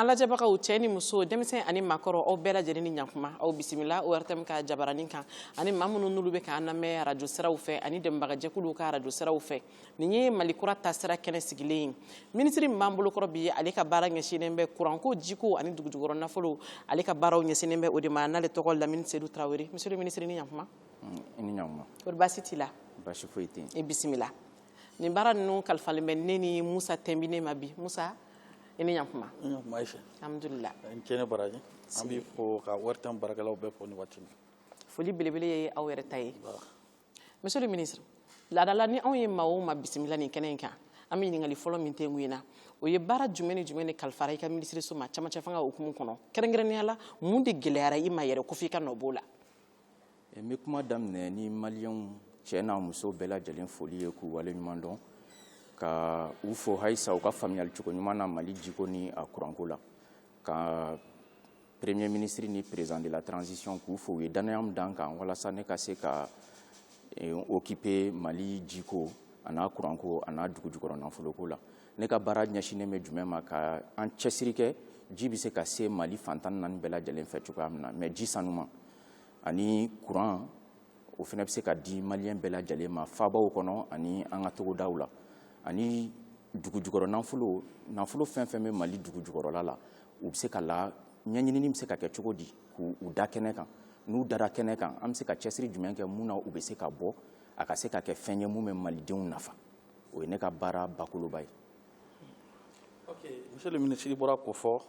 an lajɛbagaw cɛ ni muso denmisɛn ani makɔrɔ aw bɛɛ lajɛlen ni ɲakuma aw bisimila ortm ka jabaranin kan ani maa minnu n'olu bɛ k'an lamɛn arajo siraw fɛ ani dɛmɛbagajɛkuluw ka arajo siraw fɛ nin ye mali kura taasira kɛnɛ sigilen ye minisiri min b'an bolokɔrɔ bi ye ale ka baara ɲɛsinnen bɛ kuranko jiko ani dugujukɔrɔ nafolo ale ka baaraw ɲɛsinnen bɛ o de ma n'ale tɔgɔ lamini sedu tarawele monsieur le ministre ni ɲakuma mm, ni ɲakuma kɔri baasi t'i la baasi foyi tɛ i bisimila nin baara ninnu kalifalen bɛ ne ni musa tɛnbinen ma bi musa i ni ɲakuma alhamdulila n cɛne baraji an b'i fo ka ortm baarakɛlaw bɛɛ fo nin waati na foli belebele ye aw yɛrɛ ta ye monsieur le ministre laadala ni anw ye maa o maa bisimila nin kɛnɛ in kan an bɛ ɲininkali fɔlɔ min kɛ mun ye na o ye baara jumɛn ni jumɛn de kalifara i ka minisiriso ma cɛmancɛfanga hukumu kɔnɔ kɛrɛnkɛrɛnnenya la mun de gɛlɛyara i ma yɛrɛ ko f'i ka nɔ b'o la n bɛ kuma daminɛ ni maliyɛnw cɛ n'a muso bɛɛ lajɛlen foli ye k'u wale ɲuman dɔn ka u fo halisa u ka faamuyali cogo ɲuman na mali jiko ni a kuranko la ka premier ministre ni président de la transition k'u fo u ye dannaya min da n kan walasa ne ka se ka eh, okipe mali jiko a n'a kuranko a n'a dugujukɔrɔ nafoloko la ne ka baara ɲɛsinnen bɛ jumɛn ma ka an cɛsiri kɛ ji bɛ se ka se mali fan tan ni naani bɛɛ lajɛlen fɛ cogoya min na mais ji sanuman ani kuran o fana bɛ se ka di maliyɛn bɛɛ lajɛlen ma faabaw kɔnɔ ani an ka togodaw la ani dugu jukɔrɔ nafolo nafolo fɛn fɛn bɛ mali dugu jukɔrɔla la u bɛ se ka la ɲɛɲinini bɛ se ka kɛ cogo di k'u da kɛnɛ kan n'u dara kɛnɛ kan an bɛ se ka cɛsiri jumɛn kɛ mun na u bɛ se ka bɔ a ka se ka kɛ fɛn ye mun bɛ malidenw nafa o ye ne ka baara bakoloba ye monsieur le ministre bɔra ko fɔ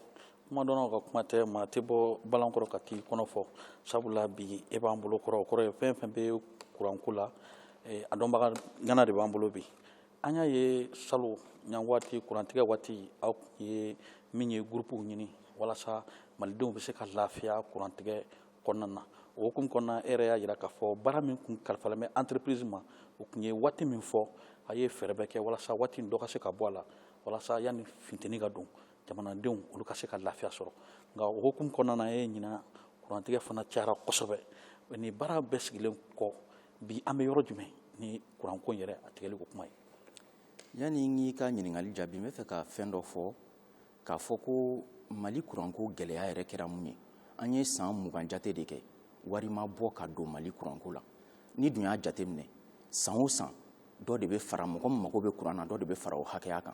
kumadɔnnaw ka kuma tɛ maa tɛ bɔ bala kɔrɔ ka t'i kɔnɔ fɔ sabula bi e b'an bolo kɔrɔ o kɔrɔ ye fɛn fɛn bɛ kuranko la a dɔnbaga ŋana de b'an bolo bi an y'a ye salon ɲa waati kurantigɛ waati aw kun ye min ye gurupuw ɲini walasa malidenw bɛ se ka lafiya kurantigɛ kɔnɔna na o hukumu kɔnɔna e yɛrɛ y'a jira k'a fɔ baara min kun kalifalen bɛ entreprise ma u tun ye waati min fɔ a ye fɛɛrɛ bɛɛ kɛ walasa waati in dɔ ka se ka bɔ a la walasa yanni funteni ka don jamanadenw olu ka se ka lafiya sɔrɔ nka o hukumu kɔnɔna na e ɲinan kurantigɛ fana cayara kosɛbɛ ni baara bɛɛ sigilen kɔ bi an bɛ yɔrɔ jumɛn ni kuranko in yɛrɛ a tigɛli ko kuma ye yanni n k'i ka ɲininkali jaabi n bɛ fɛ ka fɛn dɔ fɔ k'a fɔ ko mali kuranko gɛlɛya yɛrɛ kɛra mun ye an ye san mugan jate de kɛ wari ma bɔ ka don mali kuranko la n'i dun y'a jate minɛ san o san dɔ de bɛ fara mɔgɔ min mago bɛ kuran na dɔ de bɛ fara o hakɛya kan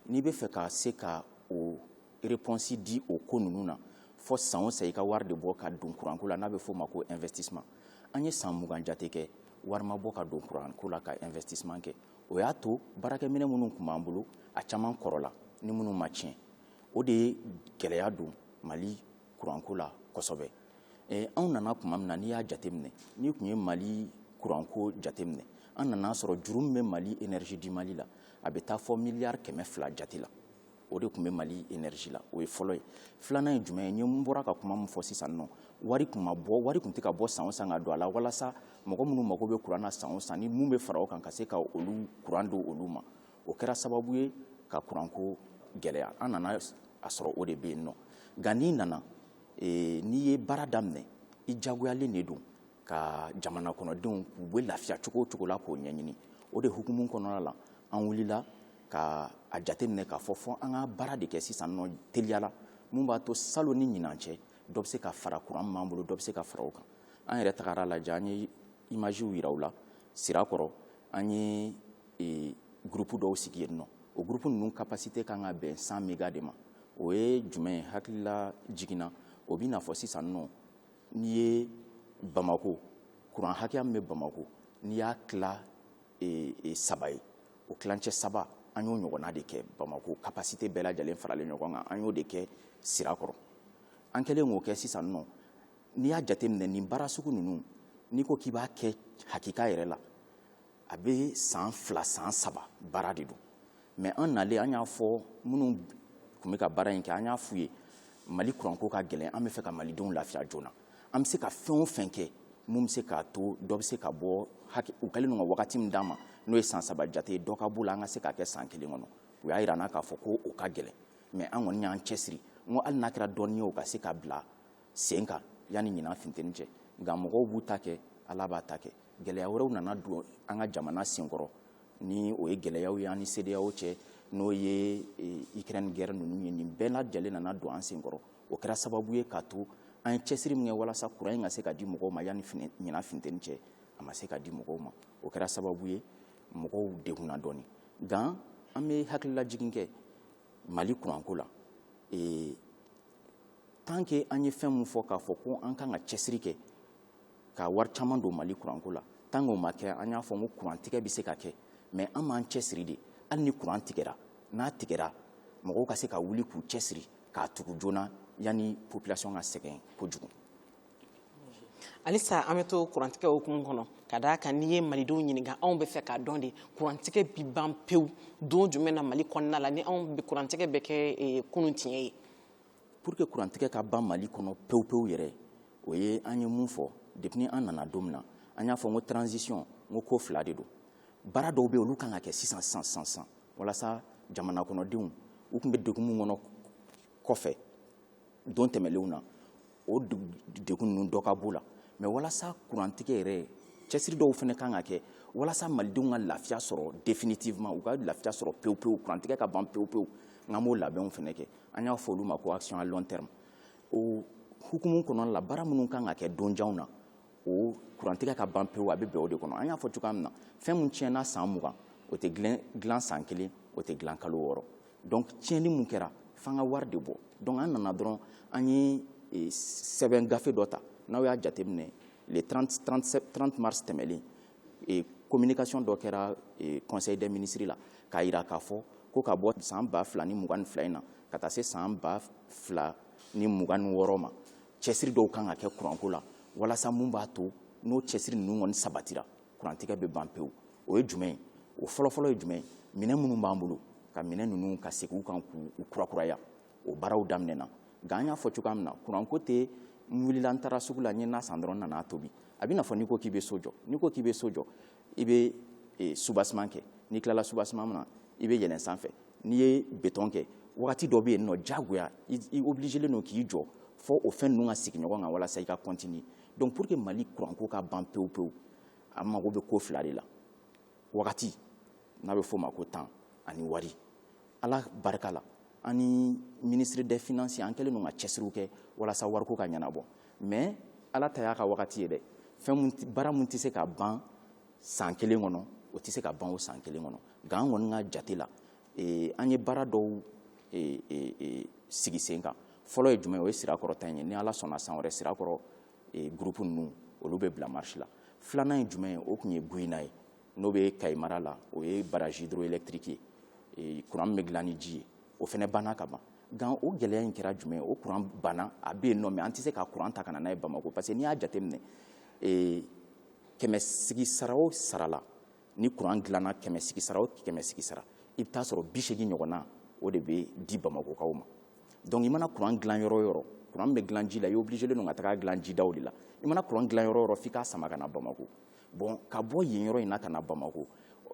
n'i bɛ fɛ ka se ka o repɔnsi di o ko ninnu na fo san o san i ka wari de bɔ ka don kuranko la n'a bɛ f'o ma ko investissement an ye san mugan jate kɛ wari ma bɔ ka don kuranko la ka investissement kɛ o y'a to baarakɛminɛ minnu tun b'an bolo a caman kɔrɔla ni minnu ma tiɲɛ o de ye gɛlɛya don mali kuranko la kosɛbɛ anw nana tuma min na n'i y'a jateminɛ n'i tun ye mali kuranko jateminɛ an nana sɔrɔ juru min bɛ mali energie du mali la a bɛ taa fɔ miliyari kɛmɛ fila jate la o de tun bɛ mali energie la o ye fɔlɔ ye filanan ye jumɛn ye n ye n bɔra ka kuma min fɔ sisan nɔ wari tun ma bɔ wari tun tɛ ka bɔ san o san ka don a la walasa mɔgɔ minnu mago bɛ kuran na san o san ni mun bɛ fara o kan ka se ka olu kuran don olu ma o kɛra sababu ye ka kuranko gɛlɛya an nana a sɔrɔ o de bɛ yen nɔ nka n'i nana n'i ye baara daminɛ i jagoyalen de don ka jamana kɔnɔdenw k'u bɛ lafiya cogo o cogo la k'o ɲɛɲini o de hukumu kɔnɔna la an wulila ka a jateminɛ k'a fɔ fɔ an ka baara de kɛ sisan nɔ teliyala mun b'a to salon ni ɲinan cɛ dɔ bɛ se ka fara kuran min b'an bolo dɔ bɛ se ka fara o kan an yɛrɛ tagara lajɛ an ye imaziw yira u la sirakɔrɔ an ye e, gurupu dɔw sigi yen nɔ o gurupu ninnu kapasite kan ka bɛn cent mega de ma o ye jumɛn hakililajigin na o bɛ n'a fɔ sisan nɔ n'i ye bamako kuran hakɛya min bɛ bamako n'i y'a tila e, e, saba ye o tilancɛ saba an y'o ɲɔgɔnna de kɛ bamako kapasite bɛɛ lajɛlen faralen ɲɔgɔn kan an y'o de kɛ sirakɔrɔ an kɛlen k'o kɛ sisan nɔ n'i y'a jateminɛ nin baara sugu ninnu n'i ko k'i b'a kɛ hakika yɛrɛ la a bɛ san fila san saba baara de don mɛ an nalen an y'a fɔ minnu tun bɛ ka baara in kɛ an y'a f'u ye mali kuranko ka gɛlɛn an bɛ fɛ ka malidenw lafiya joona an bɛ se ka fɛn o fɛn kɛ mun bɛ se k'a to dɔ bɛ se ka bɔ u kɛlen don ka wagati min d'an ma n'o ye san saba jate ye dɔ ka b'o la an ka se k'a kɛ san kelen kɔnɔ u y'a jira an na k'a fɔ ko o ka gɛlɛn mɛ an kɔni y'an cɛsiri n ko hali n'a kɛra dɔɔnin ye o ka se ka bila sen kan yanni ɲinan finteni cɛ nka mɔgɔw b'u ta kɛ ala b'a ta kɛ gɛlɛya wɛrɛw nana don an ka jamana senkɔrɔ ni o ye gɛlɛyaw ye an ni cedeao cɛ n'o ye ukraine guerre ninnu ye nin bɛɛ lajɛlen nana don an senkɔrɔ o kɛra sababu ye k'a to an ye cɛsiri min kɛ walasa kuran in ka se ka di mɔgɔw ma yanni ɲinan finteni cɛ a ma se ka di mɔgɔw ma o kɛra sababu ye mɔgɔw degunna dɔɔni nka an bɛ hakililajigin kɛ mali kuranko la ee tant que an ye fɛn min fɔ k'a fɔ ko an kan ka cɛsiri kɛ ka wari caman don mali kuranko la tant k'o ma kɛ an y'a fɔ ko kurantigɛ bɛ se ka kɛ mɛ an b'an cɛsiri de hali ni kuran tigɛra n'a tigɛra mɔgɔw ka se ka wuli k'u cɛsiri k'a tugu joona yanni population ka sɛgɛn kojugu halisa an bɛ to kurantigɛ hukumu kɔnɔ ka da a kan n'i ye malidenw ɲininka anw bɛ fɛ k'a dɔn de kurantigɛ bi ban pewu don jumɛn na mali kɔnɔna la ni anw kurantigɛ bɛ kɛ eh, kunun tiɲɛ ye pour que kurantigɛ ka ban mali kɔnɔ pewu pewu yɛrɛ o ye an ye mun fɔ depuis an nana don min na an y'a fɔ n ko transition n ko ko fila de don baara dɔw bɛ olu kan ka kɛ sisan sisan sisan sisan walasa jamana kɔnɔdenw u tun bɛ degun min kɔnɔ kɔfɛ don tɛmɛlenw na o degun ninnu dɔ ka b'u la mɛ walasa kurantigɛ yɛrɛ cɛsiri dɔw fana kan ka kɛ walasa malidenw ka lafiya sɔrɔ definitivement u ka lafiya sɔrɔ pewu pewu kurantigɛ ka ban pewu pewu n k'an b'o labɛnw fana kɛ an y'a fɔ olu ma ko action à long terme o hukumu kɔnɔna la baara minnu kan ka kɛ donjanw na o kurantigɛ ka ban pewu a bɛ bɛn o de kɔnɔ an y'a fɔ cogoya min na fɛn min tiɲɛna san mugan o tɛ dilan san kelen o tɛ dilan kalo wɔɔrɔ donc tiɲɛni mun kɛra f'an ka wari de bɔ donc an nana dɔrɔn an ye e, sɛbɛn gafe dɔ ta n'aw y'a jateminɛ le 30, 30, 30 mars tɛmɛlen e, communication dɔ kɛra e, conseil des ministres la k'a jira k'a fɔ ko ka bɔ san ba fila ni mugan ni fila in na ka taa se san ba fila ni mugan ni wɔɔrɔ ma cɛsiri dɔw kan ka kɛ kuranko la walasa mun b'a to n'o cɛsiri ninnu kɔni sabatira kurantigɛ bɛ ban pewu o ye jumɛn ye o fɔlɔfɔlɔ ye jumɛn ye minɛn minnu b'an bolo ka minɛn ninnu ka segin u kan k'u kurakuraya o baaraw daminɛna nka an y'a fɔ cogoya min na kuranko tɛ n wulila n taara sugu la n ye na san dɔrɔn n nana tobi a b'i n'a fɔ n'i ko k'i bɛ so jɔ n'i ko k'i bɛ so jɔ i bɛ eh, subasiman kɛ n'i tilala subasiman na i bɛ yɛlɛn sanfɛ n'i ye betɔn kɛ wagati dɔ bɛ yen nɔ diyagoya i obilijelen don k'i jɔ fɔ o fɛn ninnu ka sigi ɲɔgɔn kan walasa i ka kɔntini donc pour que mali kuranko ka ban pewu pewu a mago bɛ ko fila de la wagati n'a bɛ f'o ma ko temps ani wari ala barika la an ni ministre des finances an kɛlen don ka cɛsiriw kɛ walasa wariko ka ɲɛnabɔ mais ala ta y'a ka wagati ye dɛ fɛn baara mun tɛ se ka ban san kelen kɔnɔ o tɛ se ka ban o san kelen kɔnɔ nka an kɔni ka jate la eh, an ye baara dɔw eh, eh, sigi sen kan fɔlɔ ye jumɛn o ye sirakɔrɔ ta in ye ni ala sɔnna san wɛrɛ sirakɔrɔ e, gurupu ninnu olu bɛ bila marisi la filanan ye jumɛn ye o tun ye guyina ye n'o bɛ kayi mara la o ye barrage hydroélectrique ye e, kuran min bɛ dilan ni ji ye o fana banna ka ban nka o gɛlɛya in kɛra jumɛn ye o kuran banna a bɛ yen nɔ mɛ an tɛ se ka kuran ta ka na n'a ye bamako parce que n'i y'a jateminɛ e, kɛmɛ sigi sara o sara la ni kuran dilanna kɛmɛ sigisara o kɛmɛ sigisara i bɛ taa sɔrɔ bi seegin ɲɔgɔnna o de bɛ di bamakokaw ma donc i mana kuran dilan yɔrɔ o yɔrɔ kuran bɛ dilan ji la i obligelen don ka tag'a dilan jidaw de la i mana kuran dilan yɔrɔ o yɔrɔ f'i k'a sama ka na bamako bon ka bɔ yen yɔrɔ in na ka na bamako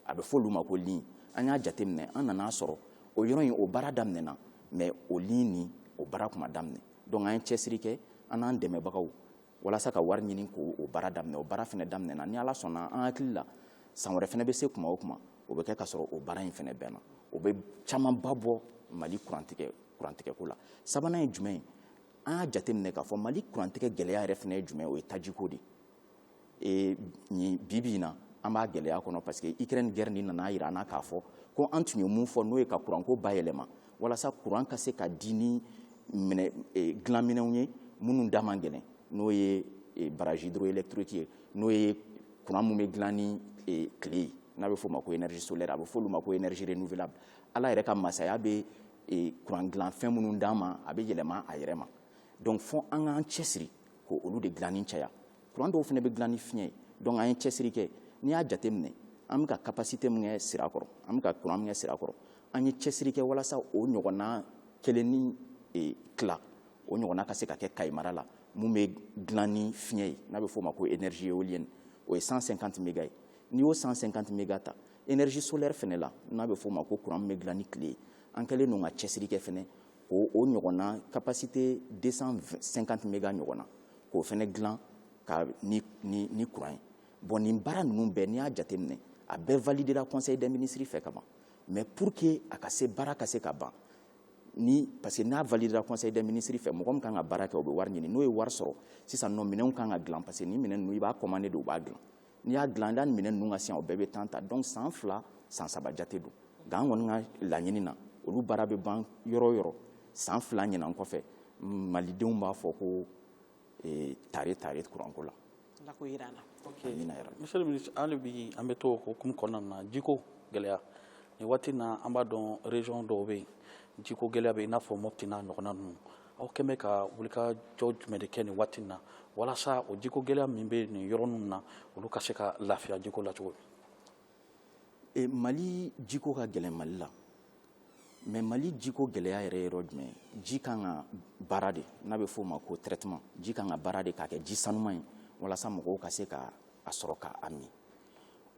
a bɛ fɔ olu ma ko ligne an y'a jateminɛ an nan'a sɔrɔ o yɔrɔ in o baara daminɛna mais o ligne nin o baara tun ma daminɛ donc an ye cɛsiri kɛ an n'an dɛmɛbagaw walasa ka wari ɲini k'o baara daminɛ o baara fana daminɛna ni ala sɔnna an hakili la san wɛrɛ fana bɛ se kuma o kuma o bɛ kɛ ka sɔrɔ o baara in fana banna o bɛ camanba bɔ mali kurantigɛ kurantigɛko la sabanan ye jumɛn ye an y'a jateminɛ k'a fɔ mali kurantigɛ gɛlɛya yɛrɛ fana ye jumɛn o ye tajiko de ye nin bi bi in na an b'a gɛlɛya kɔnɔ parce que ukraine guerre nin nan'a yira an na k'a fɔ ko an tun ye mun fɔ n'o ye ka kuranko bayɛlɛma walasa kuran ka se ka di ni eh, dilanminɛnw ye minnu da man gɛlɛn n'o ye eh, baraji hydroélectrique ye n'o ye kuran min bɛ dilan ni eh, tile ye n'a bɛ f'o ma ko énergie solaire a bɛ f'olu ma ko énergie renouvelable ala yɛrɛ ka masaya ye kuran dilan fɛn minnu d'an ma a bɛ yɛlɛma a yɛrɛ ma donc fo an k'an cɛsiri k'olu de dilanni caya kuran dɔw fana bɛ dilan ni fiɲɛ ye donc an ye cɛsiri kɛ n'i y'a jateminɛ an bɛ ka capacité min kɛ sira kɔrɔ an bɛ ka kuran min kɛ sira kɔrɔ an ye cɛsiri kɛ walasa o ɲɔgɔnna kelen ni e, tila o ɲɔgɔnna ka se ka kɛ kayi mara la mun bɛ dilan ni fiɲɛ ye n'a bɛ f'o ma ko énergie éolienne o ye 150 méga ye n'i y'o 150 méga ta énergie solaire fɛnɛ la n'a bɛ f'o ma ko courant min bɛ dilan ni tile ye an kɛlen don ka cɛsiri kɛ fɛnɛ o o ɲɔgɔnna capacité 250 méga ɲɔgɔnna k'o fɛnɛ dilan ka na ni ni courant ye bon nin baara ninnu bɛɛ n'i y'a jateminɛ a bɛɛ validera conseil des ministres fɛ ka ban mais pour que a ka se baara ka se ka ban ni parce que n'a validera conseil des ministres fɛ mɔgɔ min kan ka baara kɛ o bɛ wari ɲini n'o ye wari sɔrɔ sisan nɔ minɛnw kan ka dilan parce que nin minɛn ninnu i b'a commandé de u b'a dilan n'u y'a dilan yanni minɛn ninnu ka se yan o bɛɛ bɛ temps ta donc san fila san saba jate don nka an kɔni ka laɲini na olu baara bɛ ban yɔrɔ o yɔrɔ san fila ɲinan kɔfɛ malidenw b'a fɔ ko eh, tare tare kuranko la Ala k'o jira an na. Ok monsieur le ministre hali bi an bɛ to o hokumu kɔnɔna na jiko gɛlɛya nin waati in na an b'a dɔn région dɔw bɛ yen jiko gɛlɛya bɛ yen i n'a fɔ Mopti n'a ɲɔgɔnna ninnu aw kɛlen bɛ ka wulikajɔ jumɛn de kɛ nin waati in na walasa o jiko gɛlɛya min bɛ nin yɔrɔ ninnu na olu ka se ka lafiya jiko la cogo min. mali jiko ka gɛlɛn mali la mais mali jiko gɛlɛya yɛrɛ yɔrɔ jumɛn ji ka kan ka baara de n'a bɛ f'o ma ko traitement ji ka kan ka baara de k'a kɛ ji sanuma ye walasa mɔgɔw ka se ka a sɔrɔ ka a min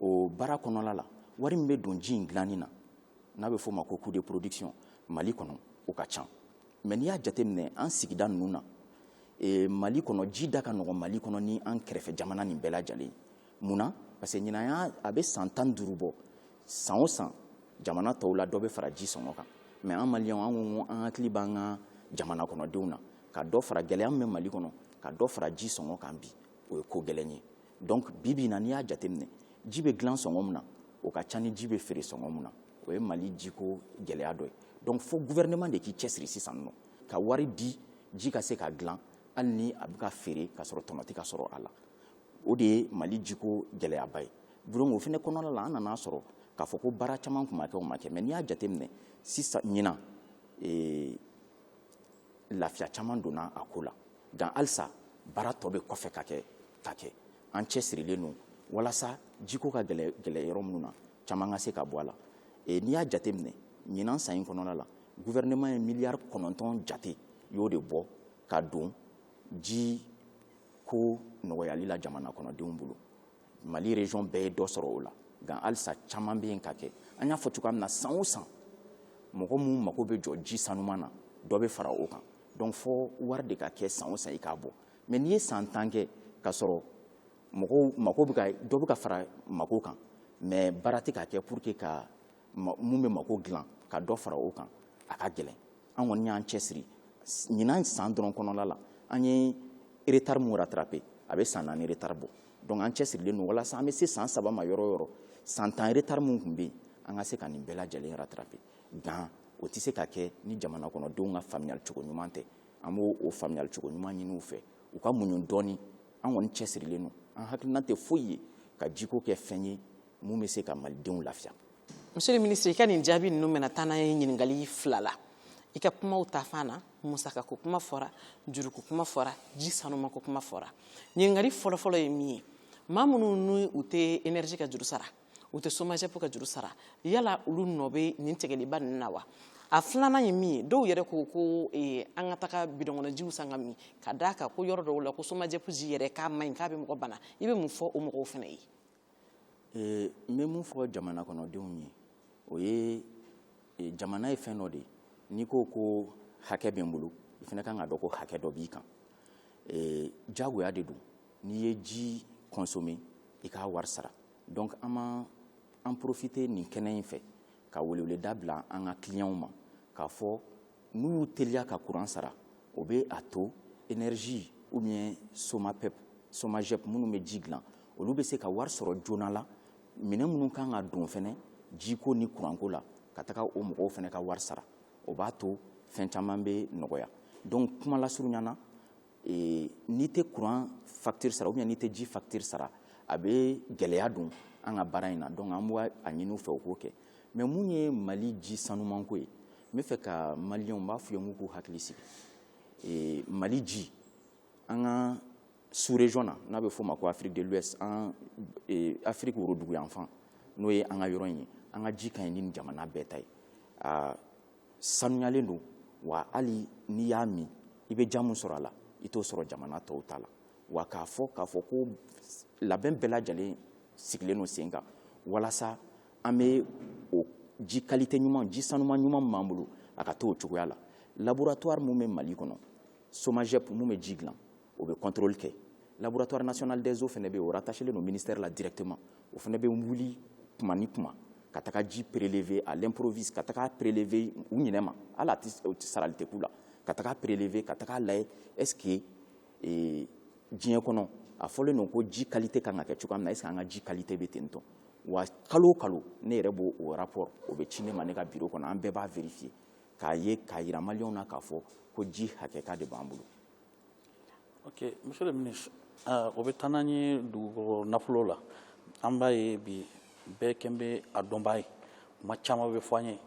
o baara kɔnɔla la wari min bɛ don ji in dilanni na n'a bɛ f'o ma ko coût de production mali kɔnɔ o ka ca mais n'i y'a jateminɛ an sigida ninnu na mali kɔnɔ ji da ka nɔgɔn mali kɔnɔ ni an kɛrɛfɛ jamana nin bɛɛ lajɛlen mun na parce que ɲinan y'a a bɛ san tan duuru bɔ san o san jamana tɔw la dɔ bɛ fara ji sɔngɔ kan mɛ an maliyɛnw an ko an hakili b'an ka jamana kɔnɔdenw na ka dɔ fara gɛlɛya min bɛ mali kɔnɔ ka dɔ fara ji sɔngɔ kan bi o ye ko gɛlɛn ye donc bi bi in na n'i y'a jateminɛ ji bɛ dilan sɔngɔ min na o ka ca ni ji bɛ feere sɔngɔ min na o ye mali jiko gɛlɛya dɔ ye donc fo gouvernement de k'i cɛsiri sisan nɔ ka wari di ji ka se ka dilan hali ni a bɛ ka feere ka sɔrɔ tɔnɔ tɛ ka sɔrɔ a la o de ye mali jiko gɛlɛyaba ye donc o fɛnɛ kɔnɔna la an nana sɔrɔ k'a fɔ ko baara caman tun ma kɛ o ma kɛ mɛ n'i y'a jateminɛ sisan ɲinan ee, lafiya caman donna a ko la nka halisa baara tɔ bɛ kɔfɛ ka kɛ ka kɛ an cɛsirilen don walasa jiko ka gɛlɛn gɛlɛn yɔrɔ minnu na caman ka se ka bɔ a la e, n'i y'a jateminɛ ɲinan san in kɔnɔna la guvɛrɛnɛman ye miliyari kɔnɔntɔn jate y'o de bɔ ka don ji ko nɔgɔyali la jamana kɔnɔdenw bolo mali region bɛɛ ye dɔ sɔrɔ o la nka halisa caman bɛ yen ka kɛ an y'a fɔ cogoya min na san o san mɔgɔ minnu mago bɛ jɔ ji sanuman na dɔ bɛ fara o kan donc fo wari de ka kɛ san o san i k'a bɔ mɛ n'i ye san tan kɛ ka sɔrɔ mɔgɔw mako bɛ ka dɔ bɛ ka fara mako kan mɛ baara tɛ ka kɛ pour que mun bɛ mako dilan ka dɔ fara o kan a ka gɛlɛn an kɔni y'an cɛsiri ɲinan san dɔrɔn kɔnɔla la an ye retard min rattraper a bɛ san naani retard bɔ donc an cɛsirilen don walasa an bɛ se san saba ma yɔrɔ o yɔrɔ san tan retard min tun bɛ yen an ka se ka nin bɛɛ lajɛlen rattraper nka o tɛ se ka kɛ ni jamana kɔnɔdenw ka faamuyali cogo ɲuman tɛ an b'o faamuyali cogo ɲuman ɲini u fɛ u ka muɲu dɔɔni an kɔni cɛsirilen don an hakilina tɛ foyi ye ka jiko kɛ fɛn ye mun bɛ se ka malidenw lafiya monsieur le ministre i ka nin jaabi ninnu bɛna taa n'an ye ɲininkali fila la i ka kumaw ta fan na musaka ko kuma fɔra juruko kuma fɔra ji sanuma ko kuma fɔra ɲininkali fɔlɔfɔlɔ ye min ye maa minnu ni u tɛ enerji ka juru sara u tɛ somajɛpo ka juru sara yala olu nɔ bɛ nin tigɛliba ninnu na wa a filanan ye min ye dɔw yɛrɛ ko ko eh, an ka taga bidɔnkɔnɔjiw san ka min ka da a kan ko yɔrɔ dɔw la ko somajɛpo ji yɛrɛ k'a man ɲi k'a bɛ mɔgɔ bana i bɛ mun fɔ o mɔgɔw fana ye Ee n bɛ mun fɔ jamana kɔnɔdenw ye o ye e, jamana ye fɛn dɔ de ye n'i ko ko hakɛ bɛ n bolo i fɛnɛ kan k'a dɔn ko hakɛ dɔ b'i kan ee jagoya de don n'i ye ji kɔnsome i k'a wari sara donc an b'an profite nin kɛnɛ in fɛ ka weleweleda bila an ka kiliyanw ma k'a fɔ n'u y'u teliya ka kuran sara o bɛ a to energie ou bien somapep somagep minnu bɛ ji dilan olu bɛ se ka wari sɔrɔ joona la minɛn minnu kan ka don fɛnɛ jiko ni kuranko la ka taga o mɔgɔw fɛnɛ ka wari sara o b'a to fɛn caman bɛ nɔgɔya donc kuma lasurunya na ee n'i tɛ kuran facture sara ou bien n'i tɛ ji facture sara a bɛ gɛlɛya don an ka baara in na donc an b'a ɲini u fɛ u k'o kɛ mais mun ye mali ji sanumanko ye n bɛ fɛ ka maliyɛnw n b'a f'u ye n k'u hakili sigi ee mali ji an ka sous région na n'a bɛ f'o ma ko afrique de l'ouest an ee afrique woroduguyanfan n'o ye an ka yɔrɔ in ye an ka ji ka ɲi ni jamana bɛɛ ta ye aa sanuyalen don wa hali n'i y'a min i bɛ diya min sɔrɔ a la i t'o sɔrɔ jamana tɔw ta la wa k'a fɔ k'a fɔ ko labɛn bɛɛ lajɛlen sigilen don sen kan walasa an bɛ o ji qualité ɲuman ji sanuman ɲuman min b'an bolo a ka to o cogoya la laboratoire min bɛ mali kɔnɔ somagep min bɛ ji dilan o bɛ contrôle kɛ laboratoire national des eaux fana bɛ yen o rattaché len don ministère la directement o fana bɛ wuli tuma ni tuma ka taga ji prélever à l'improviste ka taga prélever u ɲinɛ ma hali a tɛ sarali tɛ k'u la ka taga prélever ka taga lajɛ est ce que ee, diɲɛ kɔnɔ a fɔlen don ko ji qualité kan ka kɛ cogoya min na est ce que an ka ji qualité bɛ ten tɔ wa kalo o kalo ne yɛrɛ b'o o rapport o bɛ ci ne ma ne ka bureau kɔnɔ an bɛɛ b'a vérifier k'a ye k'a jira maliyɛnw na k'a fɔ ko ji hakika de b'an bolo ok monsieur le ministre ah, o bɛ taa n'an ye dugukolo nafolo la an b'a ye bi bɛɛ kɛlen bɛ a dɔnbaa ye kuma caman bɛ fɔ an ye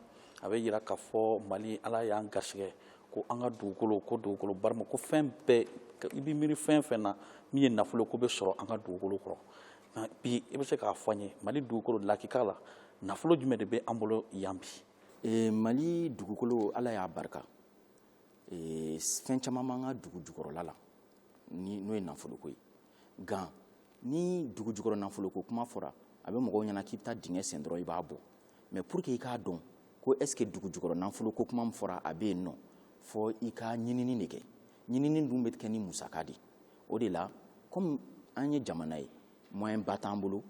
a bɛ yira k'a fɔ mali ala y'an garisɛgɛ ko an ka dugukolo ko dugukolo barikama ko fɛn bɛɛ i bɛ miiri fɛn fɛn na min ye nafolo k'o bɛ sɔrɔ an ka dugukolo kɔrɔ nka bi i bɛ se k'a fɔ an ye mali dugukolo lakika la nafolo jumɛn de bɛ an bolo yan bi ee, mali dugukolo ala y'a barika ee, fɛn caman b'an ka dugu jukɔrɔla la n'o ye nafoloko ye nka ni dugu jukɔrɔ nafoloko kuma fɔra a bɛ mɔgɔw ɲɛna k'i bɛ taa dingɛ sen dɔrɔn i b'a bɔ mais pour que i k'a dɔn ko est ce que dugu jukɔrɔ nafoloko kuma min fɔra a bɛ yen nɔ fo i ka ɲinini de kɛ ɲinini dun bɛ kɛ ni musaka de o de la komi an ye jamana ye moyen ba t'an bolo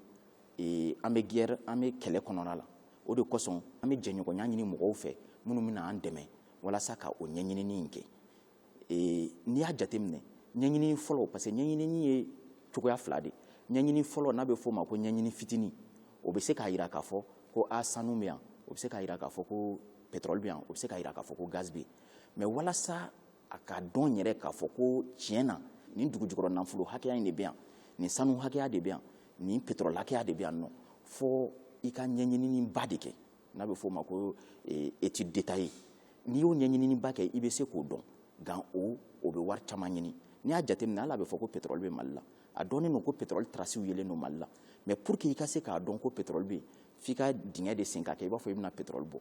ee, an bɛ guerre an bɛ kɛlɛ kɔnɔna la o de kosɔn an bɛ jɛɲɔgɔnya ɲini mɔgɔw fɛ minnu bɛna an dɛmɛ walasa ka o ɲɛɲinini in kɛ ee, n'i y'a jateminɛ ɲɛɲinini fɔlɔ parce que ɲɛɲinini ye cogoya fila de ɲɛɲini fɔlɔ n'a bɛ f'o ma ko ɲɛɲini fitini o bɛ se k'a jira k'a fɔ ko a sanu bɛ yan o bɛ se k'a jira k'a fɔ ko pétrole bɛ yan o bɛ se k'a jira k'a fɔ ko gaz bɛ yen mais walasa a ka dɔn yɛrɛ k'a fɔ ko tiɲɛ na nin dugujukɔrɔ nafolo hakɛya in de bɛ yan nin sanu hakɛya de bɛ yan nin pétrole hakɛya de bɛ yan nɔ fo i ka ɲɛɲininiba de kɛ n'a bɛ f'o ma ko eh, étude détaillée n'i y'o ɲɛɲininiba kɛ i bɛ se k'o dɔn nka o o bɛ wari caman ɲini n'i y'a jateminɛ hali a bɛ fɔ ko pétrole bɛ mali la a dɔnnen don ko pétrole trasiw yelen don mali la mais pour que i ka se k'a dɔn ko pétrole bɛ yen f'i ka dingɛ de sen ka kɛ i b'a fɔ i bɛna pétrole bɔ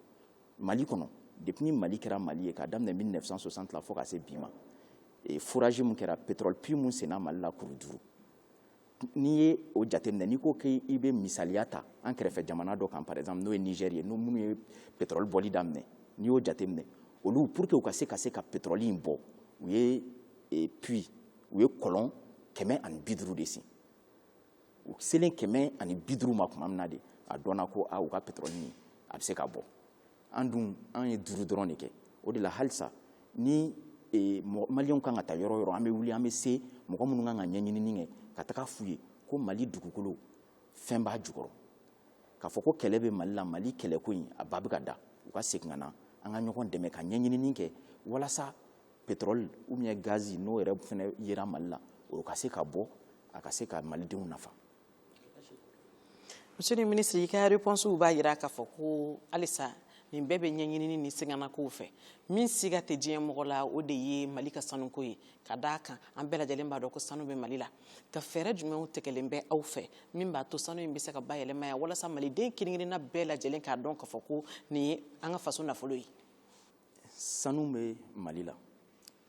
mali kɔnɔ depuis ni mali kɛra mali ye k'a daminɛ 1960 la fo ka se bi ma eh, foraji min kɛra pétrole puits min senna mali la kuru duuru n'i ye o jateminɛ n'i ko k'i bɛ misaliya ta an kɛrɛfɛ jamana dɔ kan par exemple n'o ye Niger ye n'o minnu ye pétrole bɔli daminɛ n'i y'o jateminɛ olu pour que u ka se ka se ka pétrole in bɔ u ye e, puits u ye kɔlɔn kɛmɛ ani bi duuru de sen u selen kɛmɛ ani bi duuru ma tuma min na de a dɔnna ko a u ka pétrole in a bɛ se ka bɔ an dun an ye duuru dɔrɔn de kɛ o de la halisa ni e, maliyɛnw kan ka taa yɔrɔ yɔrɔ an bɛ wuli an bɛ se mɔgɔ minnu kan ka ɲɛɲinini kɛ ka taga f'u ye ko mali dugukolo fɛn b'a jukɔrɔ k'a fɔ ko kɛlɛ bɛ mali la mali kɛlɛko in a ba bɛ ka da u ka segin ka na an ka ɲɔgɔn dɛmɛ ka ɲɛɲinini kɛ walasa pétrole ou bien gaz n'o yɛrɛ fana yera mali la o ka se ka bɔ a ka se ka malidenw nafa monsieur le ministre i ka reponsiw b'a jira k'a fɔ ko halisa nin bɛɛ bɛ ɲɛɲinini ni siganakow fɛ min siga tɛ diɲɛ mɔgɔ la o de ye mali ka sanuko ye ka da kan an bɛɛ lajɛlen b'a dɔn ko sanu bɛ mali la nka fɛɛrɛ jumɛnw tɛgɛlen bɛ aw fɛ min b'a to sanu in bɛ se ka bayɛlɛma yan walasa maliden kelen-kelenna bɛɛ lajɛlen k'a dɔn k'a fɔ ko nin ye an ka faso nafolo ye sanu bɛ mali la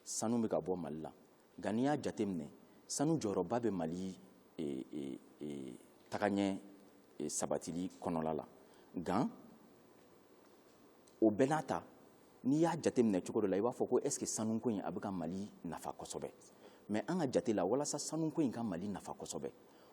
sanu bɛ ka bɔ mali la nka n'i y'a jateminɛ sanu jɔyɔrɔba bɛ mali e, e, e, tagaɲɛ e, sabatili kɔnɔla la nka o bɛɛ n'a ta n'i y'a jateminɛ cogo dɔ la i b'a fɔ ko est ce que sanuko in a bɛ ka mali nafa kosɛbɛ mais an ka jate la walasa sanuko in ka mali nafa kosɛbɛ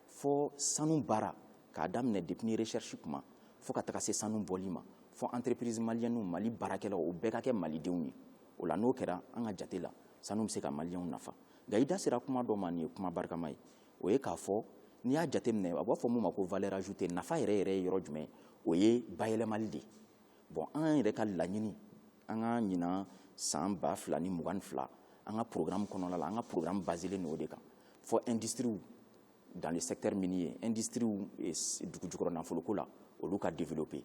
fo sanu baara k'a daminɛ depuis recherche kuma fo ka taga se sanu bɔli ma fo entreprise maliyɛnw mali baarakɛlaw o bɛɛ ka kɛ malidenw ye o la n'o kɛra an ka jate la sanu bɛ se ka maliyɛnw nafa nka i da sera kuma dɔ ma nin ye kuma barikama ye o ye k'a fɔ n'i y'a jateminɛ a b'a fɔ mun ma ko valeur ajoutée nafa yɛrɛ yɛrɛ ye yɔrɔ jumɛn o ye bayɛlɛmali de ye bon an yɛrɛ ka laɲini an ka ɲinan san ba fila ni mugan ni fila an ka programme kɔnɔna la an ka programme baselen don o de kan fo industriw dans le secteur minier industriw eh, dugu jukɔrɔ nafoloko la olu ka développer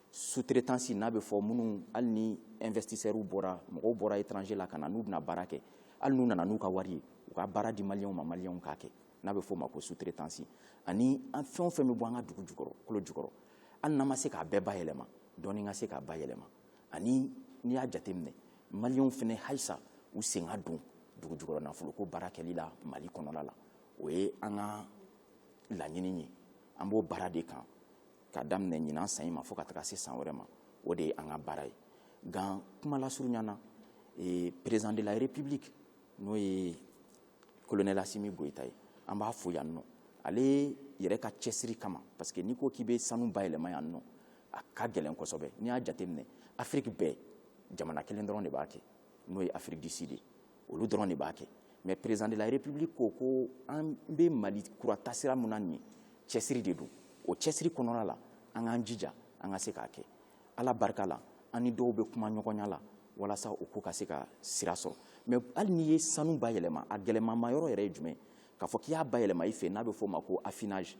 sous-traitance n'a bɛ fɔ minnu hali ni investisseurs bɔra mɔgɔw bɔra étranger la ka na n'u bɛna baara kɛ hali n'u nana n'u ka wari ye u ka baara di maliyɛnw ma maliyɛnw k'a kɛ n'a bɛ fɔ o ma ko sous-traitance ani an fɛn o fɛn bɛ bɔ an ka dugu jukɔrɔ kolo jukɔrɔ hali n'an ma se k'a bɛɛ bayɛlɛma dɔɔni ka se ka bayɛlɛma ani n'i y'a jateminɛ maliyɛnw fana halisa u sen ka don dugu jukɔrɔ nafoloko baara kɛli la mali kɔnɔla la o ye an ka laɲini ye an b'o baara de kan ka daminɛ ɲinan san in ma fo ka taga se san wɛrɛ ma o de ye an ka baara ye nka kuma lasurunya na eh, président de la république n'o ye colonel asimi goyita ye an b'a fo yan nɔ ale yɛrɛ ka cɛsiri kama parce que n'i ko k'i bɛ sanu bayɛlɛma yan nɔ a ka gɛlɛn kosɛbɛ n'i y'a jateminɛ afiriki bɛɛ jamana kelen dɔrɔn de b'a kɛ n'o ye afrique du sud ye olu dɔrɔn de b'a kɛ mɛ président de la république ko an bɛ mali kura taasira min na nin cɛsiri de don o cɛsiri kɔnɔna la an k'an jija an ka se k'a kɛ ala barika la an ni dɔw bɛ kuma ɲɔgɔnya la walasa o ko ka se ka sira sɔrɔ mɛ hali n'i ye sanu bayɛlɛma a gɛlɛmama yɔrɔ yɛrɛ ye jumɛn k'a fɔ k'i y'a bayɛlɛma i fɛ n'a bɛ fɔ o ma ko affinage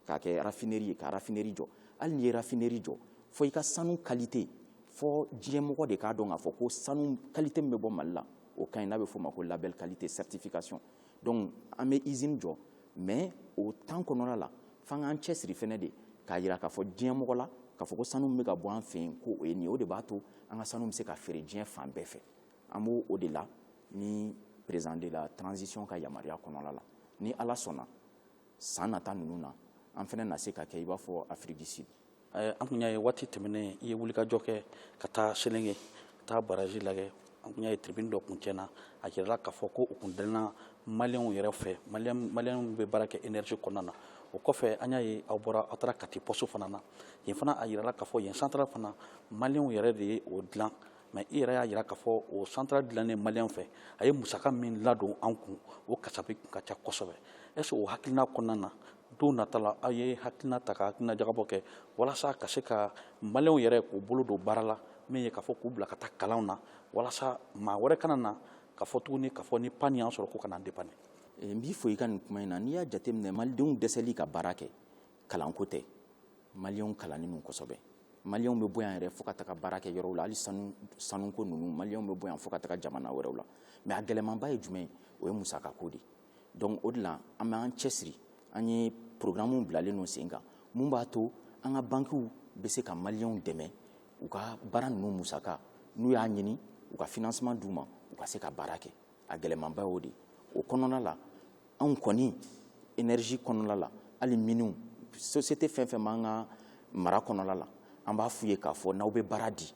k'a kɛ rafineri ye ka rafineri jɔ hali n'i ye rafineri jɔ fo i ka sanu kalite fo diɲɛmɔgɔ de k'a dɔn k'a fɔ ko sanu kalite min bɛ bɔ mali la o ka ɲi n'a bɛ f'o ma ko labɛl kalite certification donc an bɛ izini jɔ mais o tan kɔnɔna la f'an k'an cɛsiri fɛnɛ de k'a jira k'a fɔ diɲɛmɔgɔ la k'a fɔ ko sanu min bɛ ka bɔ an fɛ yen ko o ye nin ye o de b'a to an ka sanu bɛ se ka feere diɲɛ fan bɛɛ fɛ an b'o o de la ni président de la transition ka yamaruya kɔnɔna la ni ala sɔnna san nata ninnu na an fana na se ka kɛ i b'a fɔ afrique du sud eh, an tun y'a ye waati tɛmɛnen i ye wulikajɔ kɛ ka taa selenge ka taa baraji lagɛ an tun y'a ye turbine dɔ kun tiɲɛna a jirala k'a fɔ ko o kun dilanna maliyɛnw yɛrɛ fɛ maliyɛnw bɛ baara kɛ energie kɔnɔna na o kɔfɛ an y'a ye aw bɔra aw taara kati pɔso fana na yen fana a jirala k'a fɔ yen central fana maliyɛnw yɛrɛ de ye o dilan mɛ i yɛrɛ y'a jira k'a fɔ o central dilannen maliyɛn fɛ a ye musaka min ladon an kun o kasabi kun ka ca kosɛbɛ est-ce o hakilina kɔnɔna na don nata la aw ye hakilina ta ka hakilina jagabɔ kɛ walasa ka se ka maliyɛnw yɛrɛ k'u bolo don baara la min ye k'a fɔ k'u bila ka taa kalanw na walasa maa wɛrɛ kana na ka fɔ tuguni k'a fɔ ni pani y'an sɔrɔ ko ka n'an dépanner n b'i fo i ka nin kuma in na n'i y'a jateminɛ malidenw dɛsɛli ka baara kɛ kalanko tɛ maliyɛnw kalannen don kosɛbɛ maliyɛnw bɛ bɔ yan yɛrɛ fo ka taga baara kɛ yɔrɔw la hali sanu sanuko ninnu maliyɛnw bɛ bɔ yan fo ka taga jamana wɛrɛw la mɛ a gɛlɛmanba ye jumɛn ye o ye musakako de ye donc o de la an bɛ an cɛsiri an ye programmew bilalen don sen kan mun b'a to an ka bankiw bɛ se ka maliyɛnw dɛmɛ u ka baara ninnu musaka n'u y'a ɲini u ka financement d'u ma u ka se ka baara kɛ a gɛlɛmanba y'o de o kɔnɔna la anw kɔni energie kɔnɔna la hali miniw société fɛn fɛn b'an ka mara kɔnɔna la an b'a f'u ye k'a fɔ n'aw bɛ baara di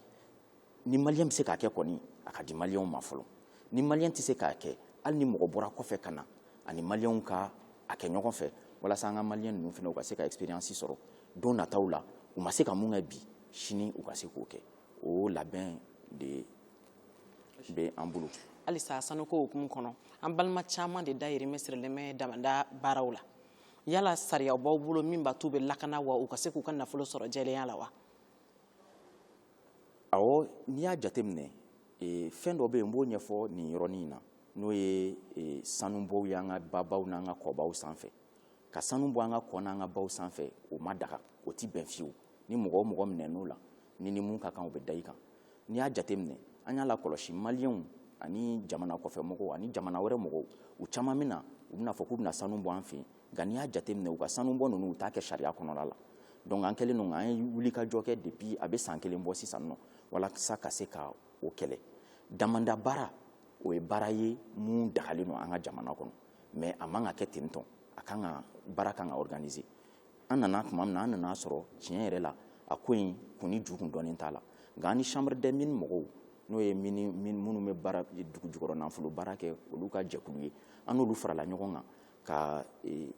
ni maliyɛn bɛ se k'a kɛ kɔni a k'a di maliyɛnw ma fɔlɔ ni maliyɛn tɛ se k'a kɛ hali ni mɔgɔ bɔra kɔfɛ ka na ani maliyɛnw ka a kɛ ɲɔgɔn fɛ walasa an ka maliyɛn ninnu fana u ka se ka expérience sɔrɔ don nataw la u ma se ka mun kɛ bi sini u ka se k'o kɛ o labɛn de bɛ an bolo halisa sanuko hukumu kɔnɔ an balima caman de dayirimɛ sirilen bɛ damada baaraw la yala sariya b'aw bolo min b'a t'u bɛ lakana wa u ka se k'u ka nafolo sɔrɔ jɛlenya la wa awɔ n'i y'a jateminɛ e, fɛn dɔ bɛ yen n b'o ɲɛfɔ nin yɔrɔnin in na n'o ye e, sanubɔw ye an ka babaw n'an ka kɔbaw sanfɛ ka sanu bɔ an ka kɔ n'an ka baw sanfɛ o ma daga o tɛ bɛn fiyewu ni mɔgɔ o mɔgɔ minɛn'o la ni ni mun ka kan u bɛ da i kan n'i y'a jateminɛ an y'a lakɔlɔsi maliyɛnw ani jamana kɔfɛ mɔgɔw ani jamana wɛrɛ mɔgɔw u caman min na u bɛna fɔ k'u bɛna sanu bɔ an fɛ yen nka n'i y'a jateminɛ u ka sanu bɔ ninnu u t'a kɛ sariya kɔnɔla la donc an kɛlen don an ye wulikajɔ kɛ depuis a bɛ san kelen bɔ sisan nɔ walasa ka se ka o kɛlɛ damanda baara o ye baara ye mun dagalen don an ka jamana kɔnɔ mais a man ka kɛ ten tɔn a kan ka baara kan ka organiser an nana tuma min na an nana sɔrɔ tiɲɛ yɛrɛ la a ko in kun ni jukun dɔnnen t'a la nka an ni chambre des mines mɔgɔw n'o ye minnu bɛ baara dugu jukɔrɔ nafolo baara kɛ olu ka jɛkulu ye an n'olu farala ɲɔgɔn kan ka e,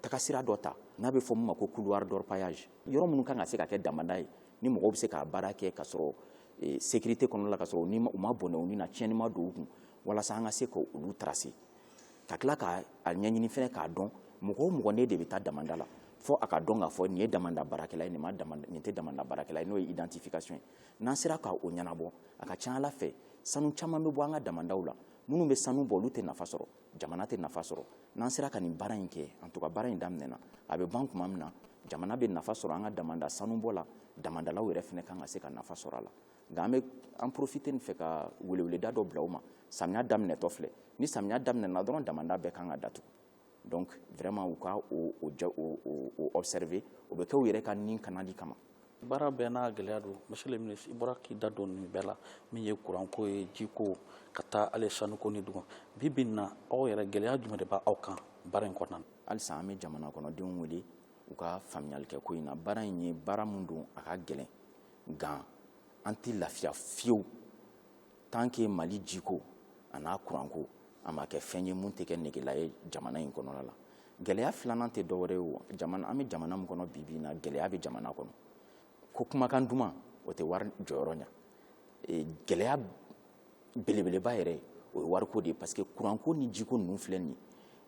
tagasira dɔ ta n'a bɛ fɔ min ma ko couloir d'orpaillage yɔrɔ minnu kan ka se ka kɛ damada ye ni mɔgɔw bɛ se k'a baara kɛ ka sɔrɔ e, sécurité kɔnɔna la ka sɔrɔ u ma bɔnɛ u ni na tiɲɛni ma don u kun walasa an ka se ka olu tracer ka tila k'a a ɲɛɲini fɛnɛ k'a dɔn mɔgɔ o mɔgɔ n'e de bɛ taa damanda la fo a ka dɔn k'a fɔ nin ye damanda baarakɛla ye nin ma damanda nin tɛ damanda baarakɛla ye n'o ye identification ye n'an sera ka o ɲɛnabɔ a ka ca a la fɛ sanu caman bɛ bɔ an ka damandaw la minnu bɛ sanu bɔ olu tɛ nafa sɔrɔ jamana tɛ nafa sɔrɔ n'an sera ka nin baara in kɛ en tout cas baara in daminɛna a bɛ ban tuma min na jamana bɛ nafa sɔrɔ an ka damanda sanubɔ la damandalaw yɛrɛ fana kan ka se ka nafa sɔrɔ a la nka an bɛ an profiter nin fɛ ka weleweleda dɔ bila u ma samiya daminɛtɔ filɛ ni samiya daminɛna dɔrɔn damanda bɛɛ kan ka datugu donc vraiment u ka o o ja o o observer o bɛ kɛ u yɛrɛ ka nin kanali kama baara bɛɛ n'a gɛlɛya don monsieur le ministre i bɔra k'i da don nin bɛɛ la min ye kuranko ye jiko ka taa hali sanuko ni dugu bi bi in na aw yɛrɛ gɛlɛya jumɛn de b'aw kan baara in kɔnɔna na halisa an bɛ jamana kɔnɔdenw wele u ka faamuyali kɛ ko in na baara in ye baara min don a ka gɛlɛn nka an tɛ lafiya fiyewu tant que mali jiko a n'a kuranko a ma kɛ fɛn ye mun tɛ kɛ negela ye jamana in kɔnɔna la gɛlɛya filanan tɛ dɔwɛrɛ ye o jamana an bɛ jamana min kɔnɔ bi bi in na gɛlɛya bɛ jamana kɔnɔ ko kumakan duman o tɛ wari jɔyɔrɔ ɲa e, gɛlɛya belebeleba yɛrɛ ye o ye wariko de ye parce que kuranko ni jiko ninnu filɛ nin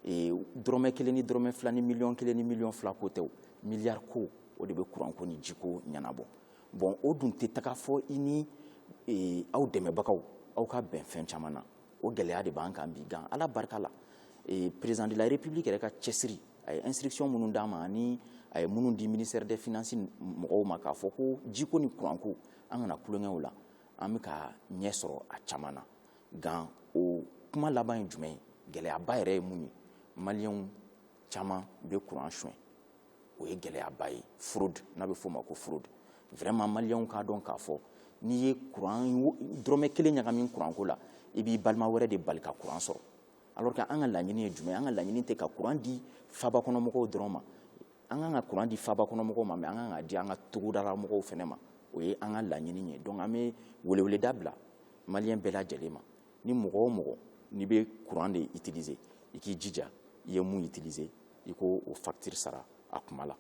ye dɔrɔmɛ kelen ni dɔrɔmɛ fila ni miliyɔn kelen ni miliyɔn fila ko tɛ o miliyari ko o de bɛ kuranko ni jiko ɲɛnabɔ bon o dun tɛ taga fo i ni aw dɛmɛbagaw aw ka bɛn fɛn caman na o gɛlɛya de b'an kan bi nka ala barika la président de la république yɛrɛ ka cɛsiri a ye instruction minnu d'an ma ani a ye minnu di ministère des finances mɔgɔw ma k'a fɔ ko jiko ni kuranko an kana tulonkɛ u la an bɛ ka ɲɛ sɔrɔ a caman na nka o kuma laban ye jumɛn ye gɛlɛyaba yɛrɛ ye mun ye maliyɛnw caman bɛ kuran suɲɛ o ye gɛlɛyaba ye fraude n'a bɛ f'o ma ko fraude vraiment maliyɛnw k'a dɔn k'a fɔ n'i ye kuran dɔrɔmɛ kelen ɲagami kuranko la i b'i balima wɛrɛ de bali ka kuran sɔrɔ alors que an ka laɲini ye jumɛn an ka laɲini tɛ ka kuran di faabakɔnɔmɔgɔw dɔrɔn ma an kan ka kuran di faaba kɔnɔ mɔgɔw ma mais an kan k'a di an ka togodala mɔgɔw fana ma o ye an ka laɲini ye donc an bɛ weleweleda bila maliyɛn bɛɛ lajɛlen ma ni mɔgɔ o mɔgɔ n'i bɛ kuran de utiliser i k'i jija i ye mun utiliser i k'o facture sara a kuma la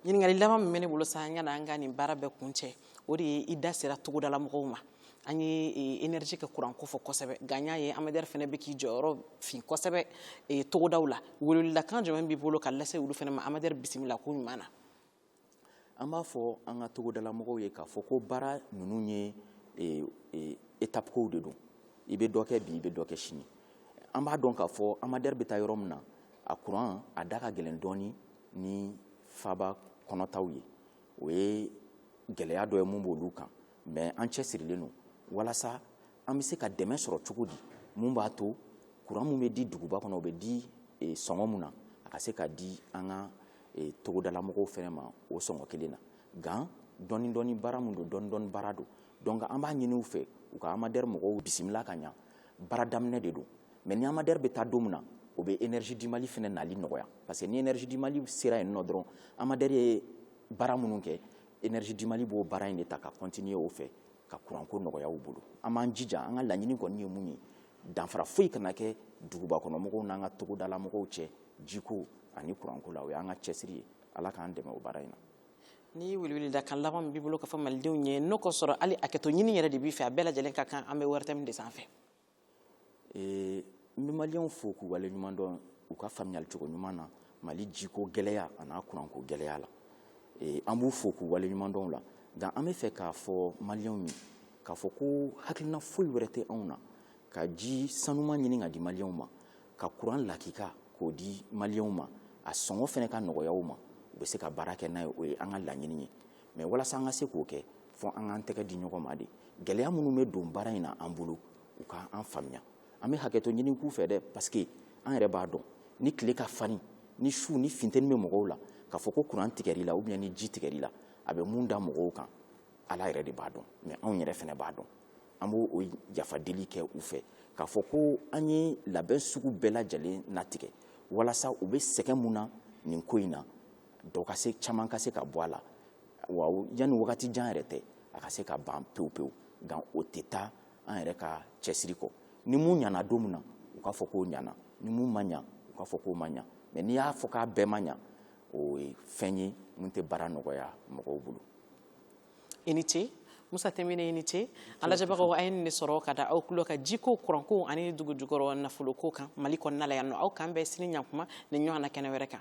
ɲininkali laban min bɛ ne bolo sani an ka na an ka nin baara bɛɛ kuncɛ o de ye i da sera togodala mɔgɔw ma an ye énergie e, ka kuranko fɔ kosɛbɛ nka n y'a ye amadɛri fana bɛ k'i jɔyɔrɔ fin kosɛbɛ e, togodaw la weleweledakan jumɛn b'i bolo ka lase olu fana ma amadɛri bisimila ko ɲuman na an b'a fɔ an ka togodala mɔgɔw ye k'a fɔ ko baara ninnu ye e, étape kow de don i bɛ dɔ kɛ bi i bɛ dɔ kɛ sini an b'a dɔn k'a fɔ amadɛri bɛ taa yɔrɔ min na a kuran a da ka gɛlɛn dɔɔni ni faaba kɔnɔ taw ye o ye gɛlɛya dɔ ye mun b'olu kan mais an cɛsirilen don walasa an bɛ se ka dɛmɛ sɔrɔ cogo di mun b'a to kuran mun bɛ di duguba kɔnɔ o bɛ di e, sɔngɔ mun na a ka se ka di an ka e, togodalamɔgɔw fɛnɛ ma o sɔngɔ kelen na nka dɔɔni dɔɔni baara mun don dɔɔni dɔɔni baara don donc an b'a ɲini u fɛ u ka amadɛri mɔgɔw bisimila ka ɲa baara daminɛ de don mais ni amadɛri bɛ taa don min na o bɛ énergie du mali fana nali nɔgɔya parce que ni énergie du mali sera yen nɔ dɔrɔn amadɛri ye baara minnu kɛ énergie du mali b'o baara in de ta ka continuer o fɛ ka kuranko nɔgɔya u bolo an b'an jija an ka laɲini kɔni ye mun ye danfara foyi kana kɛ duguba kɔnɔ mɔgɔw n'an ka togodala mɔgɔw cɛ jiko ani kuranko la o y'an ka cɛsiri ye ala k'an dɛmɛ o baara in na ni weleweledakan laban min b'i bolo ka fɔ malidenw ye n'o k'a sɔrɔ hali hakɛto ɲini yɛrɛ de b'i fɛ a bɛɛ lajɛlen ka kan an bɛ ortm de sanfɛ n bɛ maliyɛnw fo k'u wale ɲuman dɔn u ka faamuyali cogo ɲuman na mali jiko gɛlɛya an'a kuranko gɛlɛya la an b'u fo k'u wale ɲuman dɔn o la nka an b'a fɛ k'a fɔ maliyɛnw ye k'a fɔ ko hakilina foyi wɛrɛ tɛ anw na ka ji sanuman ɲini k'a di maliyɛnw ma ka kuran lakika k'o di maliyɛnw ma a sɔngɔ fana ka nɔgɔya u ma u bɛ se ka baara kɛ n'a ye o ye an ka laɲini ye mais walasa an ka se k'o kɛ fo an k'an tɛgɛ di ɲɔgɔn ma de gɛlɛya minnu bɛ don baara in na an bolo u ka an faamuya an bɛ hakɛto ɲini k'u fɛ dɛ parce que an yɛrɛ b'a dɔn ni tile ka farin ni su ni finteni bɛ mɔgɔw la k'a fɔ ko kuran tigɛr'i la ou bien ni ji tigɛr'i la a bɛ mun da mɔgɔw kan ala yɛrɛ de b'a dɔn mɛ anw yɛrɛ fana b'a dɔn an b'o o yafa deli kɛ u fɛ k'a fɔ ko an ye labɛn sugu bɛɛ lajɛlen natigɛ walasa u bɛ sɛgɛn mun na nin ko in na dɔ ka se caman ka se ka bɔ a la wa yanni wagati jan yɛrɛ tɛ a ka se ka ban pewu pewu nka o tɛ taa an yɛrɛ ka cɛsiri kɔ ni mun ɲana don min na u k'a fɔ k'o ɲana ni mun ma ɲa u k'a fɔ k'o ma ɲa mɛ n'i y'a fɔ k'a bɛɛ ma ɲa o ye fɛn ye min tɛ baara nɔgɔya mɔgɔw bolo i ni ce musa tɛmɛne i ni ce a lajɛbagaw an ye nin de sɔrɔ ka da aw tulo kan jikow kurankow ani dugujukɔrɔ nafolokow kan mali kɔnɔna la yan nɔ aw k'an bɛn sini ɲakuma nin ɲɔgɔn na kɛnɛ wɛrɛ kan